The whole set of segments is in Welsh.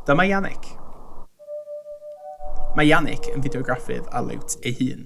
Dyma Yannick. Mae Yannick yn fideograffydd a liwt ei hun.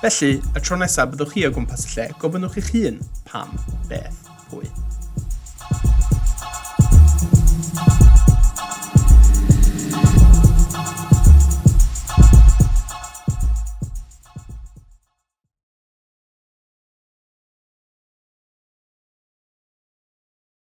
Felly, y tro nesaf byddwch chi o gwmpas y lle, gofynnwch i'ch hun, pam, beth, pwy?